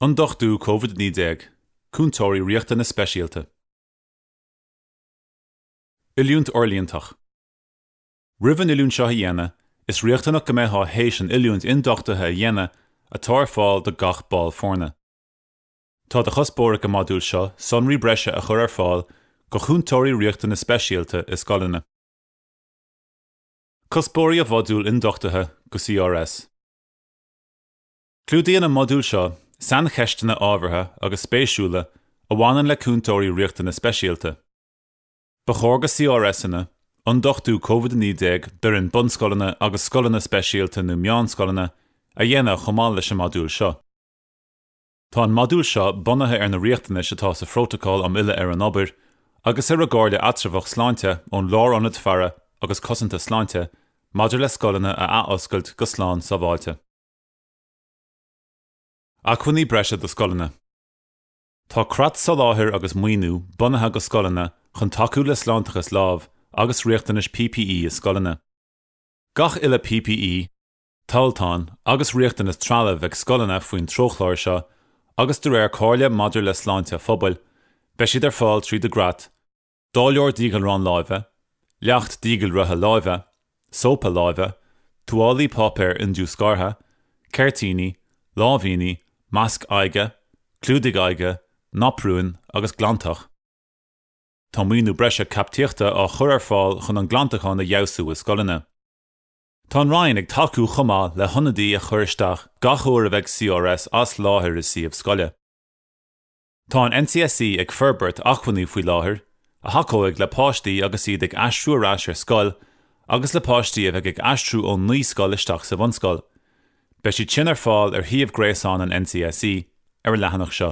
Ionduchtú COVID-19, Cúntóirí Riachtanas Speisialta. Oiliúint Fhorlíontach. Roimh an oiliúint seo a dhéanamh, is riachtanach go mbeifeá théis an oiliúint ionduchtaithe a dhéanamh atá ar fáil do gach ball foirne. Tá de chuspóir ag an modúl seo sonraí breise a chur ar fáil do Chúntóirí Riachtanas Speisialta i scoileanna. Cuspóirí an Mhodúil Ionduchtaithe do CRS. Clúdaíonn an modúl seo saincheisteanna ábhartha agus spéisiúla a bhaineann le Cúntóirí Riachtanas Speisialta. Ba chóir do CRSanna, ionduchtú COVID-19 d'fhoireann bunscoileanna agus scoileanna speisialta nó meánscoileanna, a dhéanamh chomh maith leis an modúl seo. Tá an modúl seo bunaithe ar na riachtanais atá sa Phrótacal um Fhilleadh ar an Obair agus ar an gComhairle Eatramhach Sláinte ón Lárionad Faire agus Cosanta Sláinte maidir le scoileanna a athoscailt go slán sábháilte. Acmhainní Breise do Scoileanna Tá creat soláthair agus maoiniú bunaithe do scoileanna chun tacú le sláinteachas lámh agus riachtanais PPE i scoileanna. Gach uile PPE, tomhaltán agus riachtanas trealaimh ag scoileanna faoin treochlár seo agus de réir comhairle maidir le sláinte an phobail, beidh siad ar fáil tríd an gcreat dáileoir díghalrán láimhe, leacht díghalraithe láimhe, sópa láimhe, tuáillí páipéir indiúscartha, ceirtíní, láimhíní, masc aghaidhe, clúdaigh aghaidhe, naprúin agus glantach. Tá maoiniú breise caipitíochta á chur ar fáil chun an glantachán a fheabhsú i scoileanna. Tá an Roinn ag tacú chomh maith le hionadaí a chur isteach gach uair a bheidh CRS as láthair i suíomh scoile. Tá an NCSE ag forbairt acmhainní faoi láthair a thacóidh le páistí agus iad ag aistriú ar ais ar scoil agus le páistí a bheidh ag aistriú ón naíscoil isteach sa bhunscoil. Beidh siad sin ar fáil ar shuíomh gréasáin an NCSE, ar an leathanach seo.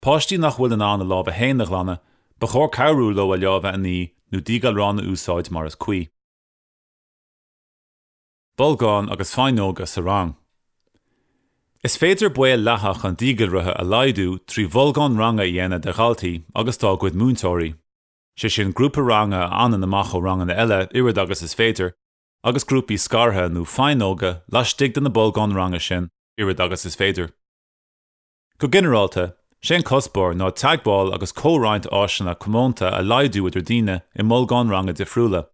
Páistí nach bhfuil in ann a lámha féin a ghlanadh, ba chóir cabhrú leo a lámha a ní nó díghalrán a úsáid mar is cuí. Bolgáin agus faighneoga sa rang. Is féidir baol leathadh an díghalraithe a laghdú trí bholgáin ranga a dhéanamh de dhaltaí agus dá gcuid múinteoirí, sé sin grúpa ranga a fhanann amach ó ranganna eile oiread agus is féidir, agus grúpaí scartha nó faighneoga laistigh de na bolgáin ranga sin oiread agus is féidir. Go ginearálta, sé an cuspóir ná teagmháil agus comhroinnt áiseanna comónta a laghdú idir daoine i mbolgáin ranga difriúla,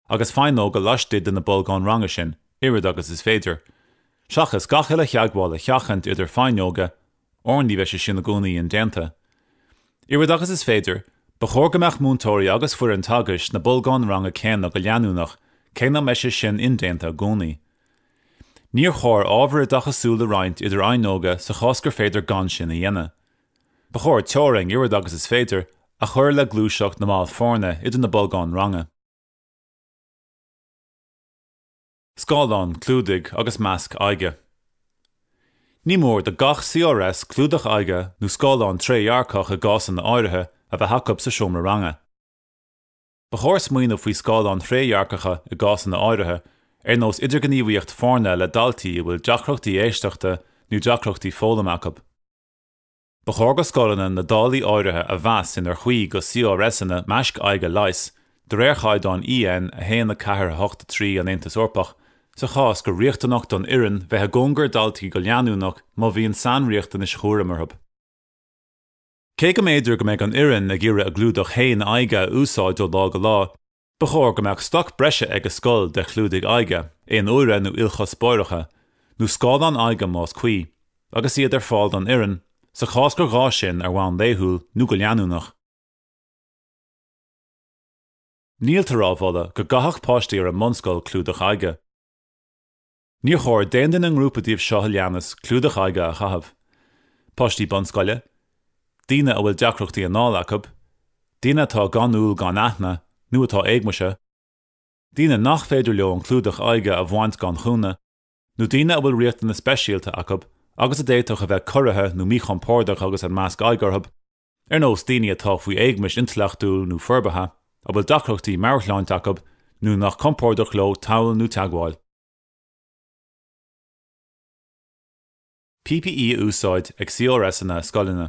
agus faighneoga laistigh de na bolgáin ranga sin, oiread agus is féidir, seachas gach uile theagmháil a sheachaint idir faighneoga, óir ní bheidh sé sin i gcónaí indéanta. Oiread agus is féidir, ba chóir go mbeadh múinteoirí agus foireann teagaisc sna bolgáin ranga céanna go leanúnach, cé nach mbeidh sé sin indéanta i gcónaí. Níor chóir ábhair oideachasúil a roinnt idir fhaighneoga sa chás gur féidir gan sin a dhéanamh. Ba chóir teorainn, oiread agus is féidir, a chur le gluaiseacht na mball foirne idir na bolgáin ranga. Scáileáin, clúdaigh agus maisc aghaidhe. Ní mór do gach CRS clúdach aghaidhe nó scáileán trédhearcach i gcásanna áirithe a bheith acu sa seomra ranga. Ba chóir smaoineamh faoi scáileáin thrédhearcacha i gcásanna áirithe, ar nós idirghníomhaíocht foirne le daltaí a bhfuil deacrachtaí éisteachta nó deacrachtaí foghlama acu. Ba chóir go scoileanna na dálaí áirithe a mheas inar chuí go CRSanna maisc aghaidhe leighis, de réir chaighdeán EN 1 4 8 3 an Aontais Eorpach, sa chás gur riachtanach don fhoireann bheith i gcóngar daltaí go leanúnach má bhíonn sainriachtanais chúraim orthu. Cé go mb'fhéidir go mbeidh an fhoireann ag iarraidh a gclúdach fhéin aghaidhe a úsáid ó lá go lá, ba chóir go mbeadh stoc breise ag an scoil de chlúdaigh aghaidhe aon uaire nó ilchuspóireacha, nó scáileáin aghaidhe más cuí, agus iad ar fáil don fhoireann, sa chás gur gá sin, ar bhonn laethúil nó go leanúnach. Níltear á mholadh go gcaithfeadh páistí ar an mbunscoil clúdach aghaidhe. Níor chóir d'aon duine i ngrúpa díobh seo a leanas clúdach aghaidhe a chaitheamh, páistí bunscoile, daoine a bhfuil deacrachtaí anála acu, daoine atá gan iúl gan aithne nó atá éagumasaithe, daoine nach féidir leo an clúdach aghaidhe a bhaint gan chúnamh, nó daoine a bhfuil riachtanais speisialta acu agus a d'fhéadfadh a bheith corraithe nó míchompordach agus an masc aghaidhe orthu. ar nós daoine atá faoi éagumas intleachtúil nó forbartha, a bhfuil deacrachtaí meabhairshláinte acu nó nach compordach leo tadhall nó teagmháil. PPE a úsáid ag CRSanna i scoileanna.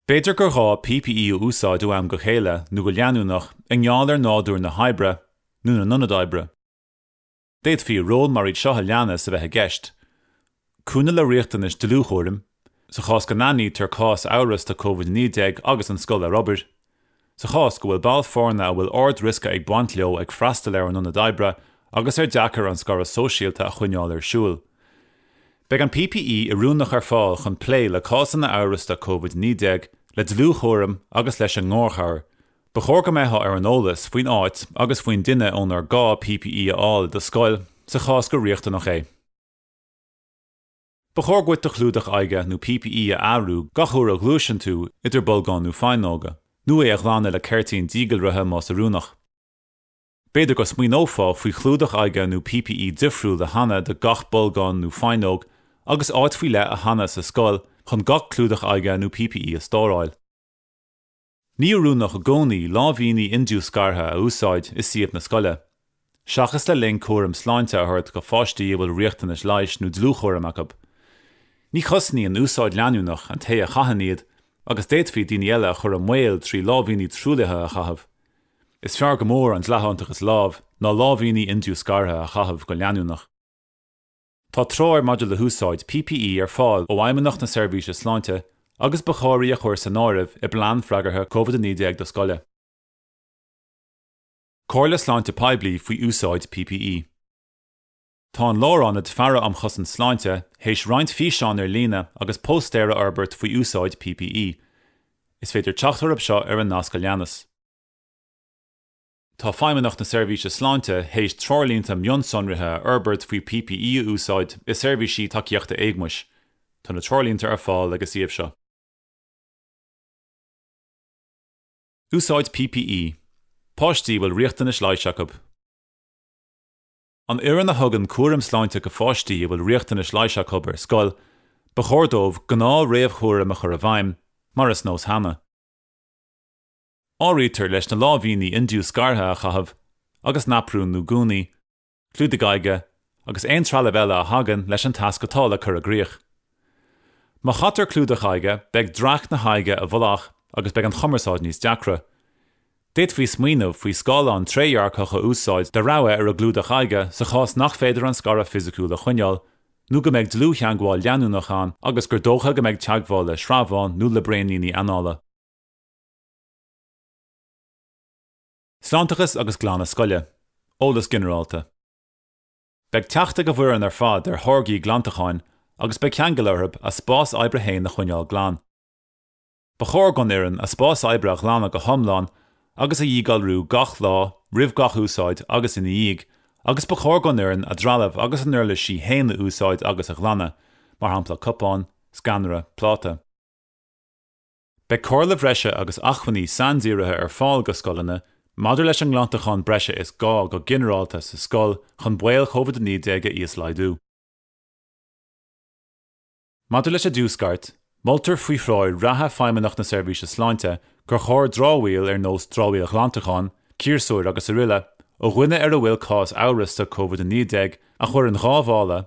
B'fhéidir gur ghá PPE a úsáid ó am go chéile nó go leanúnach i ngeall ar nádúr na hoibre nó na n-ionad oibre. D'fhéadfaí ról mar iad seo a leanas a bheith i gceist, cúnamh le riachtanais dlúthchúraim, sa chás go n-aithnítear cás amhrasta COVID-19 agus an scoil ar obair, sa chás go bhfuil ball foirne a bhfuil ard-riosca ag baint leo ag freastal ar an ionad oibre agus ar deacair an scaradh sóisialta a choinneáil ar siúl. Beidh an PPE oiriúnach ar fáil chun plé le cásanna amhrasta COVID-19, le dlúthchúram agus leis an ngarchabhair, Ba chóir go mbeitheá ar an eolas faoin áit agus faoin duine ónar gá PPE a fháil i do scoil, sa chás gur riachtanach é. Ba chóir dhuit do chlúdach aghaidhe nó PPE a athrú gach uair a ghluaiseann tú idir bolgáin nó faighneoga, nó é a ghlanadh le ceirtín díghalraithe más oiriúnach. B'fhéidir go smaoineofá faoi chlúdach aghaidhe nó PPE difriúil a shannadh do gach bolgán nó faighneog agus áit faoi leith a shannadh sa scoil chun gach clúdach aghaidhe nó PPE a stóráil. Ní hoiriúnach i gcónaí láimhíní indiúscartha a úsáid i suíomh na scoile, seachas le linn cúram sláinte a thabhairt go pháistí a bhfuil riachtanais leighis nó dlúthchúraim acab. Ní chosnaíonn úsáid leanúnach an té a chaitheann iad agus d'fhéadfaí daoine eile a chur i mbaol trí láimhíní truaillithe a chaitheamh. Is fearr go mór an tsláinteachas lámh ná láimhíní indiúscartha a chaitheamh go leanúnach. Tá treoir maidir le húsáid PPE ar fáil ó Fheidhmeannacht na Seirbhíse Sláinte agus ba chóir í a chur san áireamh i bplean freagartha Covid-19 do scoile. Comhairle Sláinte Poiblí faoi úsáid PPE. Tá an Lárionad Faire um Chosaint Sláinte théis roinnt físeán ar líne agus póstaer a fhorbairt faoi úsáid PPE. Is féidir teacht orab seo ar an nasc a leanas. Tá Feidhmeannacht na Seirbhíse Sláinte théis treoirlínte mionsonraithe a fhorbairt faoi PPE a úsáid i seirbhísí tacaíochta éagmaise. Tá na treoirlínte ar fáil ag an suíomh seo. Úsáid PPE, páistí a bhfuil riachtanais leighis acab. An fhoireann a thugann cúram sláinte go pháistí a bhfuil riachtanais leighis acab ar scoil, ba chóir dóibh gnáth-réamhchúraim a chur i bhfeidhm, mar is nós cheana. Áirítear leis na láimhíní indiúscartha a chaitheamh agus naprúin nó gúnaí, clúdaigh aghaidhe agus aon trealamh eile a thagann leis an tasc atá le cur i gcrích. Má chaitear clúdach aghaidhe, beidh dreach na haghaidhe i bhfolach agus beidh an chumarsáid níos deacra. D'fhéadfaí smaoineamh faoi scáileán trédhearcach a úsáid de rogha ar an gclúdach aghaidhe sa chás nach féidir an scaradh fisiciúil a choinneáil nó go mbeidh dlúth-theangmháil leanúnach ann agus gur dócha go mbeidh teagmháil le sreabhán nó le braoníní anála. Sláinteachas agus glanadh scoile, eolas ginearálta. Beidh teacht ag an bhfoireann ar fad ar tháirgí glantacháin agus beidh ceangal orthu a spás oibre féin a choinneáil glan. Ba chóir don fhoireann a spás oibre a ghlanadh go hiomlán agus a dhíghalrú gach lá, roimh gach úsáid agus ina dhiaidh, agus ba chóir don fhoireann a dtrealamh agus a n-uirlisí féin a úsáid agus a ghlanadh, mar shampla cupán, sceanra, pláta. Beidh comhairle bhreise agus acmhainní saindírithe ar fáil go scoileanna maidir leis an nglantachán breise is gá go ginearálta sa scoil chun baol Covid-19 a íoslaghdú. Maidir leis an diúscairt, moltar faoi threoir reatha Feidhmeannacht na Seirbhíse Sláinte gur chóir dramhaíl ar nós dramhaíl ghlantacháin, ciarsúir agus aroile, ó dhuine ar a bhfuil cás amhrasta Covid-19 a chur in dhá mhála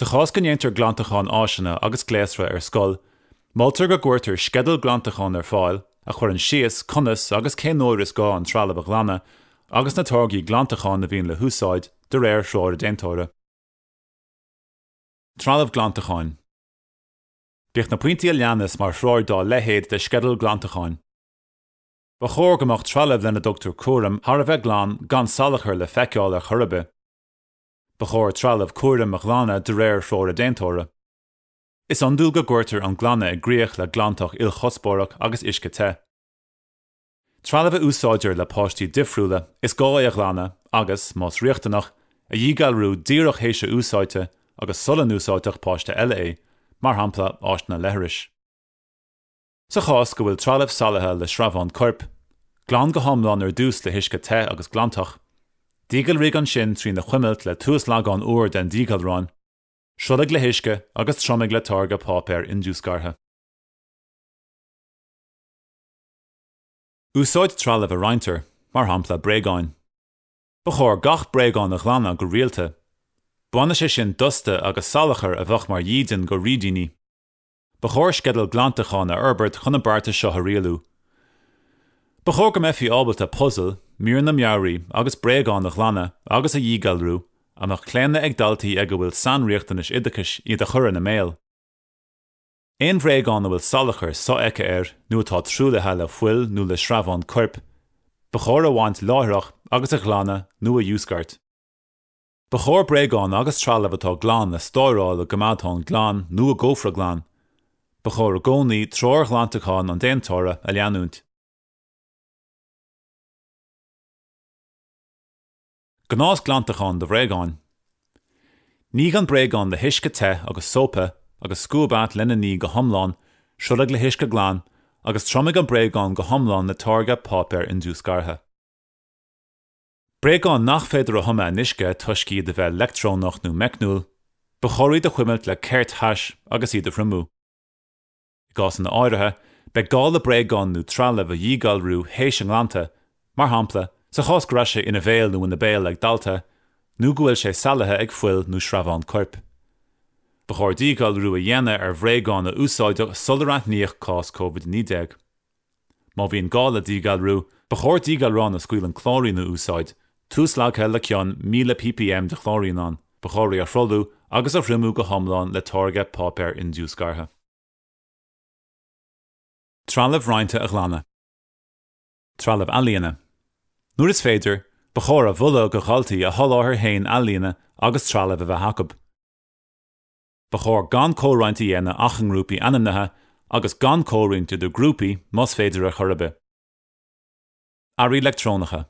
Sa chás go ndéantar glantachán áiseanna agus gléasra ar scoil, moltar go gcuirtear sceideal glantacháin ar fáil a chuireann síos conas agus cén uair is gá an trealamh a ghlanadh agus na táirgí glantacháin a bhíonn le húsáid de réir threoir a déantóra. Trealamh glantacháin Bíodh na pointí a leanas mar threoir dá leithéid de sceideal glantacháin. Ba chóir go mbeadh trealamh lena dtugtar cúram thar a bheith glan gan salachar le feiceáil ar chor ar bith. Ba chóir trealamh cúraim a ghlanadh de réir threoir an déantóra. Is iondúil go gcuirtear an glanadh i gcrích le glantach ilchuspóireach agus uisce te. Trealamh a úsáidtear le páistí difriúla, is gá é a ghlanadh agus, más riachtanach, a dhíghalrú díreach théis a úsáidte agus sula n-úsáidfeadh páiste eile é, mar shampla, áiseanna leithris. Sa chás go bhfuil trealamh salaithe le sreabháin coirp, glan go hiomlán ar dtús le huisce te agus glantach. Díghalraigh ansin trína chuimilt le tuaslagán úr den díghalrán, sruthlaigh le huisce agus triomaigh le táirge páipéar indiúscartha. Úsáid trealamh a roinntear, mar shampla bréagáin. Ba chóir gach bréagán a ghlanadh go rialta. Bainfidh sé sin dusta agus salachar a bheadh mar dhídean go fhrídíní. Ba chóir sceideal glantacháin a fhorbairt chun an beartas seo a rialú. Ba chóir go mbeifí ábalta puzail, míreanna mearaí agus bréagáin a ghlanadh agus a dhíghalrú a mbeadh claonadh ag daltaí ag a bhfuil sainriachtanais oideachais iad a chur ina mbéal. Aon bhréagán a bhfuil salachar so-fheicthe air nó atá truaillithe le fuil nó le sreabháin coirp, ba chóir a bhaint láithreach agus a ghlanadh nó a dhiúscairt. Ba chóir bréagáin agus trealamh atá glan a stóráil i gcoimeádthán glan nó i gcófra glan. Ba chóir i gcónaí treoir ghlantacháin an déantóra a leanúint. Gnás glantacháin do bhréagáin. Nígh an bréagán le huisce te agus sópa agus scuab atá lena ní go hiomlán, sruthlaigh le huisce glan, agus triomaigh an bréagán go hiomlán le táirge páipéar indiúscartha. Bréagáin nach féidir a thumadh in uisce toisc iad a bheith leictreonach nó meicniúil, ba chóir iad a chuimilt le ceirt thais agus iad a thriomú. I gcásanna áirithe, beidh gá le bréagáin nó trealamh a dhíghalrú théis a nglanta, mar shampla, sa chás go raibh sé ina bhéal nó ina béal ag dalta, nó go bhfuil sé salaithe ag fuil nó sreabhán coirp. Ba chóir díghalrú a dhéanamh ar bhréagáin a úsáideadh sular aithníodh cás COVID-19. Má bhíonn gá le díghalrú, ba chóir díghalrán a scaoileann clóirín a úsáid, tuaslagtha le cion 1000 ppm de chlóirín ann. Ba chóir é a shruthlú agus a thriomú go hiomlán le táirge páipéar indiúscartha. Trealamh roinnte a ghlanadh. Trealamh ealaíne. Nuair is féidir, ba chóir a mholadh do dhaltaí a soláthar féin ealaíne agus trealamh a bheith acu. Ba chóir gan comhroinnt a dhéanamh ach i ngrúpaí ainmnithe agus gan comhroinnt idir grúpaí, más féidir ar chor ar bith. Earraí leictreonacha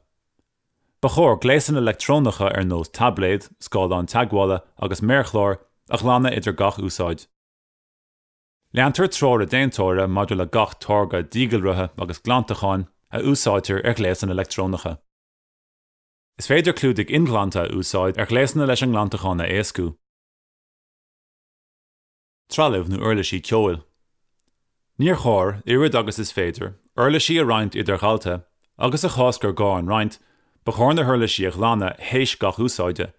Ba chóir gléasanna leictreonacha ar nós taibléad, scáileán teagmhála agus méarchláir a ghlanadh idir gach úsáid. Leantar treoir an déantóra maidir le gach táirge díghalraithe agus glantacháin a úsáidtear ar ghléasanna leictreonacha. Is féidir clúdaigh inghlanta a úsáid ar ghléasanna leis an nglantachán a éascú. trealamh nó uirlisí ceoil. Níor chóir, oiread agus is féidir, uirlisí a roinnt idir dhaltai agus, sa chás gur gá a roinnt, ba chóir na huirlisí a ghlanadh théis gach úsáide.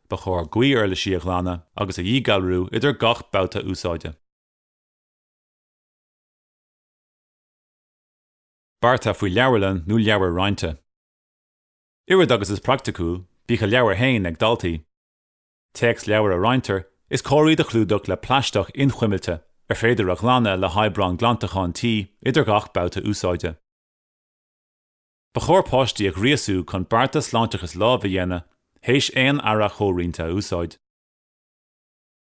Ba chóir gaoth-uirlisí a ghlanadh agus a dhíghalrú idir gach babhta úsáide. Beartas faoi leabharlann nó leabhair roinnte. Oiread agus is praiticiúil, bíodh a leabhair féin ag daltaí. Téacsleabhair a roinntear, is cóir iad a chlúdach le plaisteach inchuimilte, ar féidir a ghlanadh le hoibreán glantacháin tí, idir gach babhta úsáide. Ba chóir páistí a ghríosú chun bearta sláinteachais láimh a dhéanamh théis aon earra chomhroinnte a úsáid.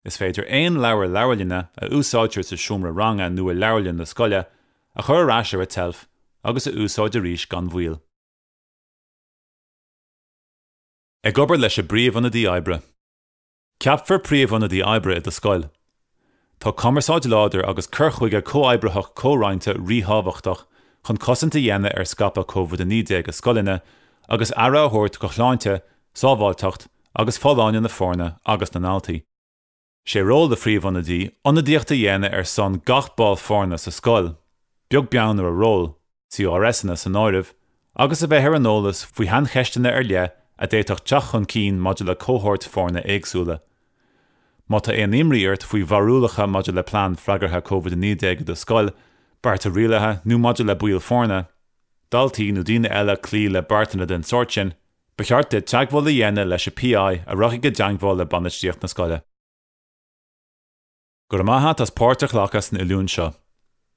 Is féidir aon leabhar leabharlainne a úsáidtear sa seomra ranga nó i leabharlann na scoile a chur ar ais ar an tseilf agus a úsáid arís gan mhoill. Ag obair leis an bpríomhionadaí oibre. Ceapfar príomhionadaí oibre i do scoil. Tá cumarsáid láidir agus cur chuige comhoibritheach comhroinnte ríthábhachtach chun cosaint a dhéanamh ar scaipeadh COVID-19 i scoileanna agus aire a thabhairt do shláinte, sábháilteacht agus folláine na foirne agus na ndaltaí. Sé ról an phríomhionadaí ionadaíocht a dhéanamh ar son gach ball foirne sa scoil, beag beann ar a ról, CRSanna san áireamh, agus a bheith ar an eolas faoi shaincheisteanna ar leith a d'fhéadfadh teacht chun cinn maidir le cohóirt foirne éagsúla. Má tá aon imní ort faoi bharúlacha maidir le plean freagartha Covid-19 i do scoil, bearta rialaithe nó maidir le baill foirne, daltaí nó daoine eile cloí le beartanna den tsórt sin, Ba cheart duit teagmháil a dhéanamh leis an PI a rachaidh i dteagmháil le bainistíocht na scoile. Go raibh maith a't as páirt a ghlacadh san oiliúint seo.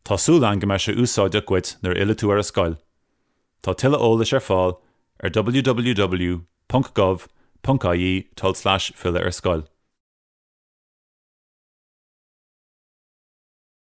Tá súil agam go mbeidh sé úsáideach dhuit nuair a fhillfidh tú ar an scoil. Tá tuilleadh eolais ar fáil ar www.gov.ie tulslais filleadh-ar-scoil.